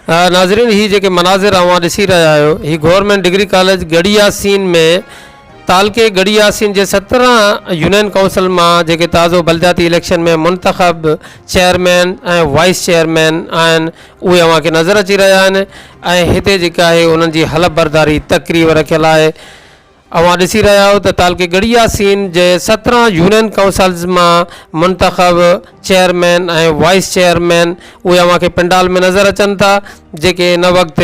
ناظرين هي جيڪي مناظر اوهان ڏسي رهيا آهيو هي government degree college Garhi Yasin ۾ تعلقي ڳڙهي ياسين جي سترهن يونين ڪائونسل مان جيڪي تازو بلدياتي اليڪشن ۾ منتخب چيئرمين ۽ وائيس چيئرمين آهن اهي اوهان کي نظر اچي رهيا آهن ۽ هتي جيڪا آهي انهن جي حلف برداري تقريب رکيل آهي اوهان ڏسي رهيا آهيو ته تعلقي ڳڙهي ياسين جي سترهن يونين ڪائونسلز مان منتخب چيئرمين ۽ وائيس چيئرمين اهي اوهان کي پنڊال ۾ نظر اچن ٿا جيڪي ان وقت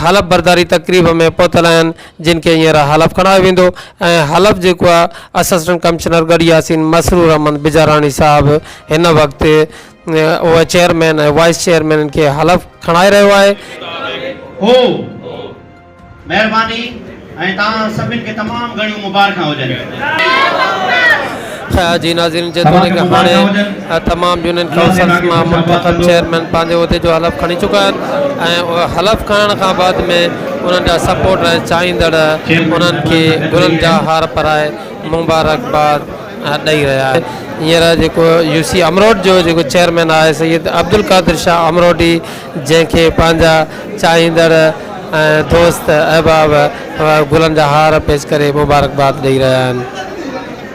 حلف برداري تقريب ۾ پهتل آهن جن کي هينئر حلف کڻايو ويندو ۽ حلف جيڪو آهي اسسٽنٽ ڪمشنر ڳڙهي ياسين مسرور احمد بجاراڻي صاحب هن وقت اهي چيئرمين ۽ وائيس چيئرمينن کي حلف کڻائي رهيو آهي. هو. مهرباني ۽ توهان سڀن کي تمام گهڻيون مبارڪان هجن. جي ناظرين جيتوڻيڪ هاڻي تمام يونين ڪائونسلز مان منتخب چيئرمين پنهنجي عهدي جو حلف کڻي چڪا آهن ۽ حلف کڻڻ کان بعد ۾ انهن جا سپورٽر ۽ چاهيندڙ انهن کي گلن جا هار پرائي مبارڪباد ڏئي رهيا آهن هينئر جيڪو يو سي امروٽ جو جيڪو چيئرمين آهي سيد عبدالقادر شاهه امروٽي جنهن کي پنهنجا چاهيندڙ ۽ دوست احباب گلن جا هار پيش ڪري مبارڪباد ڏئي رهيا آهن.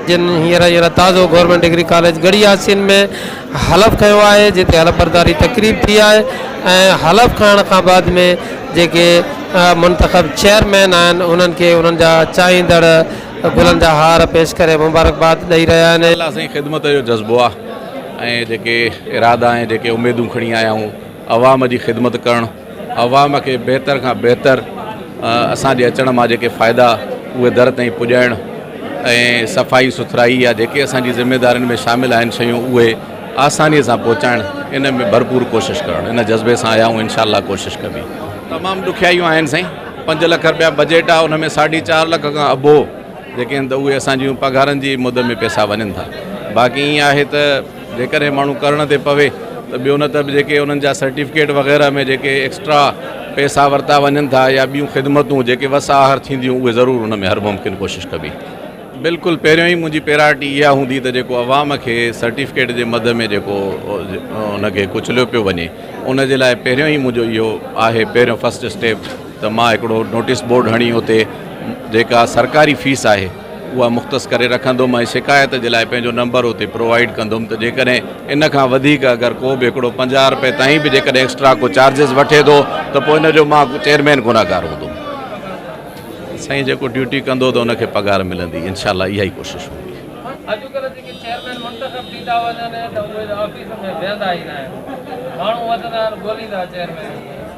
جن هينئر هينئر تازو government degree college Garhi Yasin ۾ حلف کنيو آهي جتي حلف برداري تقريب ٿي آهي ۽ حلف کڻڻ کان بعد ۾ جيڪي منتخب چيئرمين آهن انهن کي انهن جا چاهيندڙ گلن جا هار پيش ڪري مبارڪباد ڏئي رهيا آهن. الله سائين خدمت جو جذبو آ. ۽ جيڪي ارادا ۽ جيڪي اميدون کڻي آيا آهيون عوام جي خدمت ڪرڻ عوام کي بهتر کان بهتر اسان جي اچڻ مان جيڪي فائدا اهي در تائين پڄائڻ ۽ صفائي سٿرائي يا جيڪي اسان جي ذميدارين ۾ شامل آهن شيون اهي آساني سان پهچائڻ ان ۾ ڀرپور ڪوشش ڪرڻ ان جذبي سان آيا آهيون انشاء الله ڪوشش ڪبي تمام ڏکيائيون آهن سائين پنج لک رپيا بجيٽ آهي ان ۾ ساڍي چار لک کان اڀو جيڪي آهن ته اهي اسان جيون پگهارن جي مد ۾ پئسا وڃن ٿا باقي ائين آهي ته جيڪڏهن ماڻهو ڪرڻ تي پوي ته ٻيو نه ته جيڪي انهن جا سرٽيفڪيٽ وغيره ۾ جيڪي ايڪسٽرا پئسا ورتا وڃن ٿا يا ٻيون خدمتون جيڪي وس آهر ٿينديون اهي ضرور ان ۾ هر ممڪن ڪوشش ڪبي بلڪل پهريون ئي منهنجي پيراٽي اها هوندي ته جيڪو عوام کي سرٽيفڪيٽ جي مد ۾ جيڪو ان کي ڪچليو پيو وڃي ان جي لاء پهريون ئي منهنجو اهو آهي پهريون فسٽ اسٽيپ ته مان هڪڙو نوٽيس بورڊ هڻي اتي جيڪا سرڪاري فيس آهي اها مختص ڪري رکندم ۽ شڪايت جي لاء پنهنجو نمبر اتي پرووائيڊ ڪندم ته جيڪڏهن ان کان وڌيڪ اگر ڪو به هڪڙو پنجاهه رپئي تائين به جيڪڏهن ايڪسٽرا ڪو چارجز وٺي ٿو ته پوء ان جو مان چيئرمين گنهگار هوندم سائين جيڪو ڊيوٽي ڪندو ته ان کي پگهار ملندي انشاء الله اها ئي ڪوشش هوندي. اڄڪلهه جيڪي چيئرمين منتخب ٿي ٿا وڃن ته اهي آفيسن ۾ ويهندا ئي ناهن ماڻهو وڌندا آهن ڳوليندا چيئرمينن کي.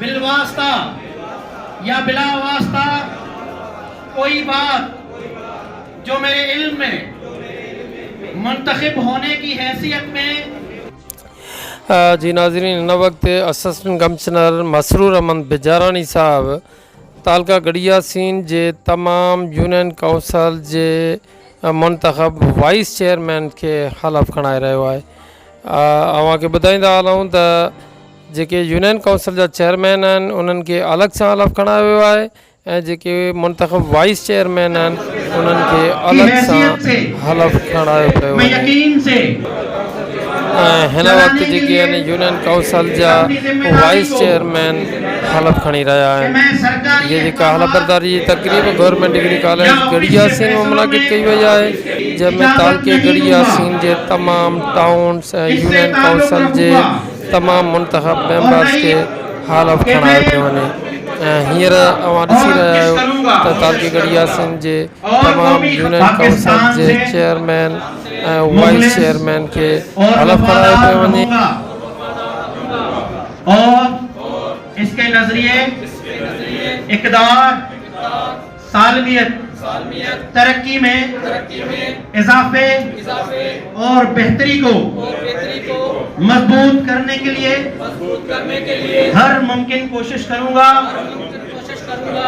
بالواسطه يا بلا واسطه ڪوئي بات جو ميري علم مين منتخب هوني ڪي حيثيت مين. جي ناظرين هن وقت اسسٽنٽ ڪمشنر مسرور احمد بجاراڻي صاحب تعلقه گڙياسين جي تمام يونين ڪائونسل جي منتخب وائيس چيئرمين کي حلف کڻائي رهيو آهي اوهان کي ٻڌائيندا هلون ته جيڪي يونين ڪائونسل جا چيئرمين آهن انهن کي الڳ سان الف کڻايو ويو آهي ۽ جيڪي منتخب وائيس چيئرمين آهن انهن کي الڳ سان الف کڻايو پيو وڃي ۽ هن وقت جيڪي يعني يونين ڪائونسل جا وائيس چيئرمين الف کڻي رهيا آهن جي جيڪا الف برداري جي تقريب government degree college Garhi Yasin ۾ منعقد ڪئي وئي آهي جنهن ۾ تعلقي گڙهي ياسين جي تمام ٽائونز ۽ يونين ڪائونسل جي تمام منتخب ميمبرز کي هال آف کڻايو پيو وڃي ۽ هينئر اوهان ڏسي رهيا آهيو ته تعلقي ڳڙهي ياسين جي تمام يونين ڪائونسل جي چيئرمين ۽ وائيس چيئرمين کي هال آف کڻايو پيو وڃي اور اس کے نظريي اقدار سالميت، ترقي ۾ اضافي اور بهتري ڪو مضبوط ڪرني ڪي ليي هر ممڪن ڪوشش ڪرون گا.